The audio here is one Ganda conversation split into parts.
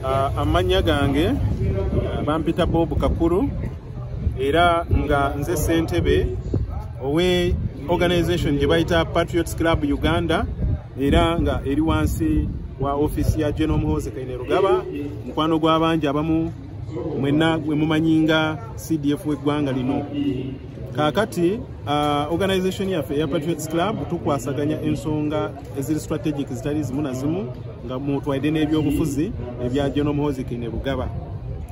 Ah, amannya gange ah, bampita bob kakulu era nga nze ssentebe owe organization gye bayita patriots club uganda era nga eri wansi wa ofiisi ya general muhoze kaine rugaba mukwano gw'abangi abamu mwenna gwe mumanyi nga cdf w'eggwanga lino kakati uh, organization yaffe eya patriots club tukwasaganya ensonga eziri strategic zitali zimu na zimu nga mutwaide n'ebyobufuzi ebya genomuhoziki ne lugaba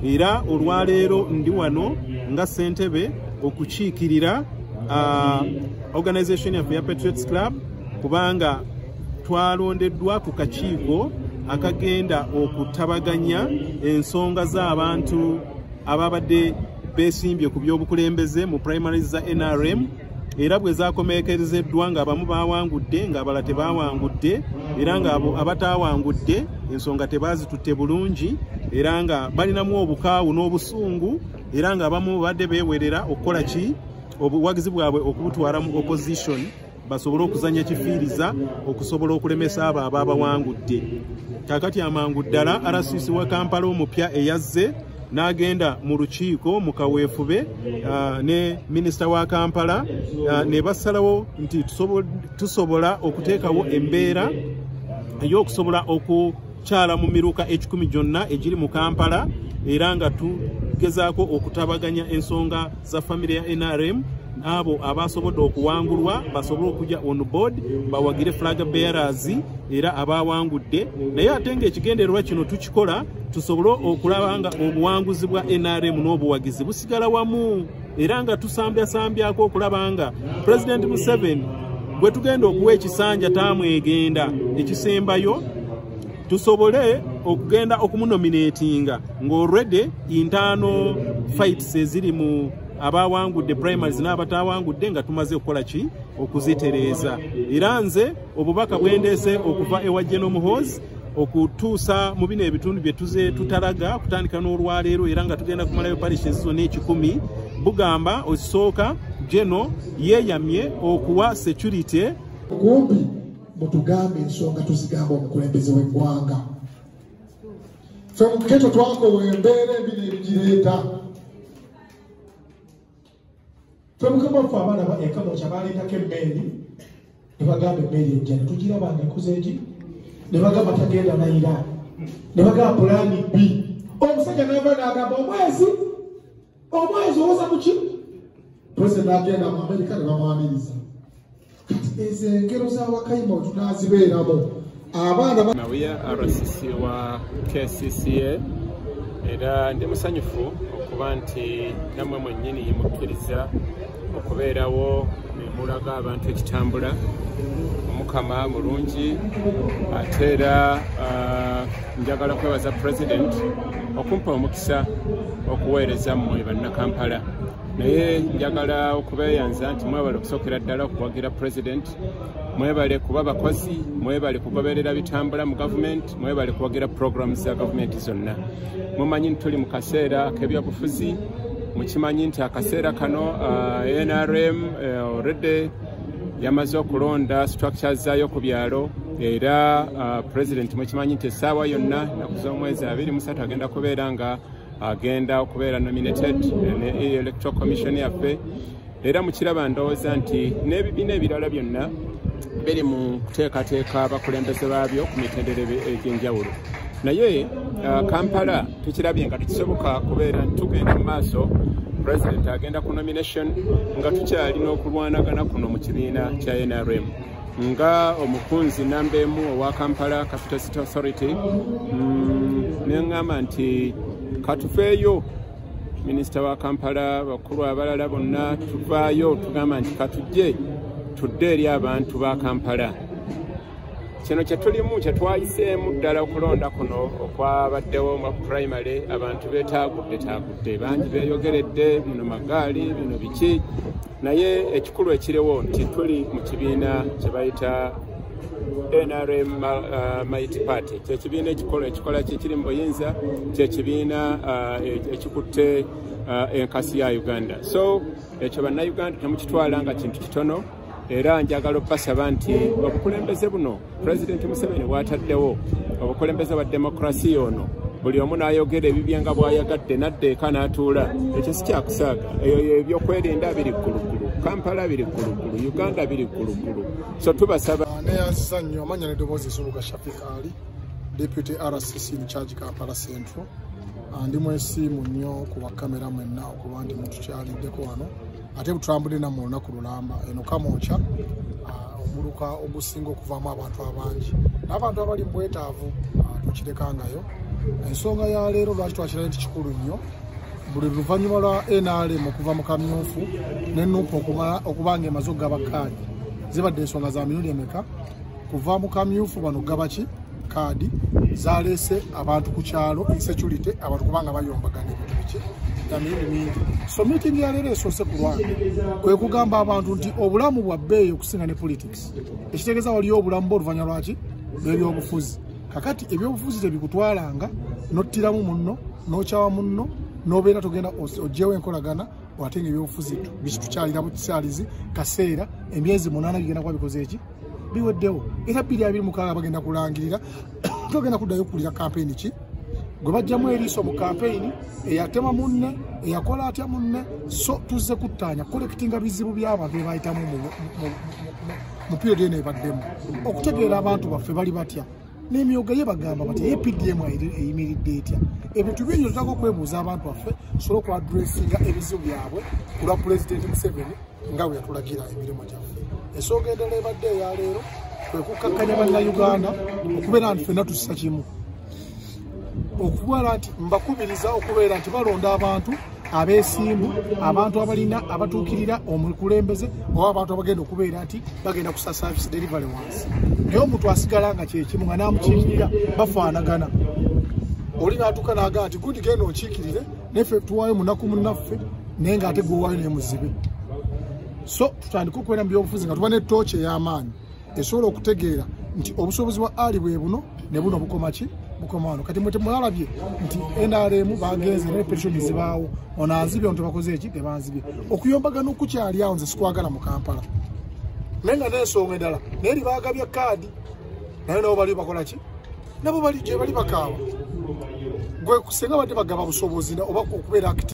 era olwaleero ndi wano nga ssentebe okukiikirira uh, organization yaffe ya patriots club kubanga twalondeddwa ku kakiiko akagenda okutabaganya ensonga z'abantu ababadde besimbye ku by'obukulembeze mu primary za nrm era bwe zakomeekerezeddwa ng'abamu baawangudde ng'abala tebaawangudde era ng'abo abataawangudde ensonga tebaazitutte bulungi era nga balinamu obukaawu n'obusungu era ng'abamu babadde beewerera okukola ki obuwagizi bwabwe okubutwala mu opposition basobole okuzanya kifiiriza okusobola okulemesa abo abaabawangudde kakati amangu ddala rcc wa kampala omupya eyazze n'agenda mu lukiiko mu kaweefube uh, ne minisita wa kampala uh, ne basalawo nti tusobola okuteekawo embeera ey'okusobola oku kyala mu miruka ekikumi gyonna egiri mu kampala era nga tugezaako okutabaganya ensonga za famire ya nrm abo abasobodde okuwangulwa basobole okujja on board bawagire flag bearers era abawangudde naye ate nga ekigendererwa kino tukikola tusobole okulaba nga obuwanguzi bwa nrm n'obuwagizi busigala wamu era nga tusambyasambyaako okulaba nga president museven gwe tugenda okuwa ekisanja tamwegenda ekisembayo tusobole okugenda okumunominatinga ng'already intaano fights eziri mu abawangudde primaries n'abatawangudde nga tumaze okukola ki okuzitereeza era nze obubaka bwendeese okuva ewa jenomuhoozi okutuusa mu bino ebitundu bye tuze tutalaga okutandika n'olwaleero era nga tugenda kumalayo parishi ezizona ekikumi bugamba osooka geno yeeyamye okuwa security kumpi mutugambe ensonga tuzigamba omukulembeze w'eggwanga fe muketo twakowa embeera ebino ebigireeta twemukama ffe abaana ba ekamokya baleetako emmeeri ne bagamba emmeeri ejja ne tugiraba nga ekuza egi ne bagamba tagenda na iraani ne bagamba pulaani bbi omusajja nava nagamba omwezi omwezi owoza muki pulezidenti agenda mu amerika ne bamwaniriza kati ezo engero za wakayima wetunaazibeeramu abaana nawiya rcc wa kcca era ndi musanyufu okuba nti namwe mwennyini yimukkiriza okubeerawo nemulaga abantu ekitambula omukama mulungi ate era ah, njagala kwebaza president okumpa omukisa okuweereza mmwe bannakampala naye njagala okubeeyanza nti mwebale okusookera ddala okuwagira president mwebale kuba bakozi mwebale kugoberera bitambula mu gavumenti mwebale kuwagira programu za gavumenti zonna mumanyi nti tuli mu kaseera k'ebyobufuzi mukimanyi nti akaseera kano uh, nrm uh, already yamaze okulonda structure zaayo ku byalo era uh, president mukimanyi nti essaawa yonna naku z'omwezi abiri musatu agenda kubeera nga agenda okubeera nominated ne electoral commission yaffe era mukiraba ndowooza nti n'ebibiina ebirala byonna biri mu kuteekateeka abakulembeze baabyo ku mitendere egy'enjawulo naye uh, kampala tukirabye nga tekisoboka kubeera tugenda mu maaso president agenda ku nomination nga tukyalina okulwanagana kuno mu kibiina kya nrm nga omukunzi namba emu owa kampala capital city authority mm, neŋŋamba nti katufeeyo minisita wa kampala bakulu abalala bonna tuvaayo tugamba nti katujje tudde eri abantu ba kampala kino kyetulimu kyetwayiseemu ddala okulonda kuno okwabaddewo nga ku primary abantu betaagudde taagudde bangi beeyogeredde bino magaali bino biki naye ekikulu ekiriwo nti tuli mu kibiina kye bayita nrm uh, mighty party kyekibiina ekikola ekikola kyekiri mu buyinza kyekibiina uh, e, ekikutte uh, enkasi ya uganda so ekyo bannauganda temukitwala nga kintu kitono era njagala okubasaba nti obukulembeze buno president museveni bwataddewo obukulembeze bwa demokrasiya ono buli omu n'ayogera ebibye nga bw'ayagadde n'adda eka n'atuula ekyo si kyakusaaga eyo ebyokwerinda biri ggulugulu kampala biri ggulugulu uganda biri ggulugulu so tubasaba ah, neyanziza nnyo amanya nedoboozi esubuga shafik ali deputy rcc incharge kampala central ah, ndi mwesiimu nnyo ku bakamera mwenna okuba nti mutukyaliddeko wano ate butulambudde namu olunaku lulamba eno kamokya ah, omuluka ogusinga okuvaamu abantu abangi n'abantu abali mu bwetaavu ah, tukirekangayo ensonga ya leero lwaki twakirayo nti kikulu nnyo buli luvannyuma lwa nrm okuva mu kamyufu ne nupu okuba nga emaze okugaba kaadi zibadde ensonga za mirundi emeka kuva mu kamyufu bano gabaki kaadi zaleese abantu ku kyalo insecurity abantu kubanga bayombagana ebintu biki emirundi mingi so meeting yaleero esoose ku lwange kwe kugamba abantu nti obulamu bwa bbeeyi okusinga ne politics ekitegeeza waliyo obulamu bwe oluvanyuma lwaki lw'ebyobufuzi kakati ebyobufuzi tebikutwalanga nottiramu munno n'okyawa munno n'obeera togenda oggyewo enkolagana ate nga ebyobufuzi bikitukyalira mu kisaalizi kaseera emyezi munaana bigenda kuba bikoze eki biweddewo era bbiri abiri mukaaga bagenda kulangirira togenda kuddayo kukulira kampeyini ki gwe bajjamu eriiso mu kampeyini eyatema munne eyakola atya munne so tuzze kuttaanya kolekitinga bizibu by'abantu bye bayitamu mu piyodi eno ebaddemu okutegeera abantu baffe bali batya n'emyoga ye bagamba bati ye pdm eyimiridde etya ebintu bingi otutaka okwebuuza abantu baffe sobola okuadressinga ebizibu byabwe kulwa pulezidenti museveni nga bwe yatulagira emirimu gyaffe ensonga endala ebadde eya leero kwe kukkakkanya bannayuganda okubeera nti fenna tussa kimu okubala nti mbakubiriza okubeera nti balonda abantu abesimbu abantu abalina abatuukirira omukulembeze oba abantu abagenda okubeera nti bagenda kusa service delivery wansi naye omuntu asigala nga kyekimu nga namukiikirira bafaanagana oli natuuka naga nti gundi genda onkiikirire neffe tuwaayo munaku munaffe naye nga ate gwewaayo naye muzibe so tutandike okubeera mu byobufuzi nga tuba ne tooki ey'amaanyi esobola okutegeera nti obusobozi bwa ali bwe buno ne buno bukoma ki bukoma wano kati mwe temwalabye nti nrm bagenze naye petitioni zibaawo ono anzibye ono tebakoze eki tebanzibye okuyombagana okukyali awo nze sikwagala mu kampala naye nga nensonga endala naye libaagabya kaadi naye nabo baliyo bakola ki nabo bali gyebali bakaawa gwe kusenga badde bagaba busobozi oba okubeera akiti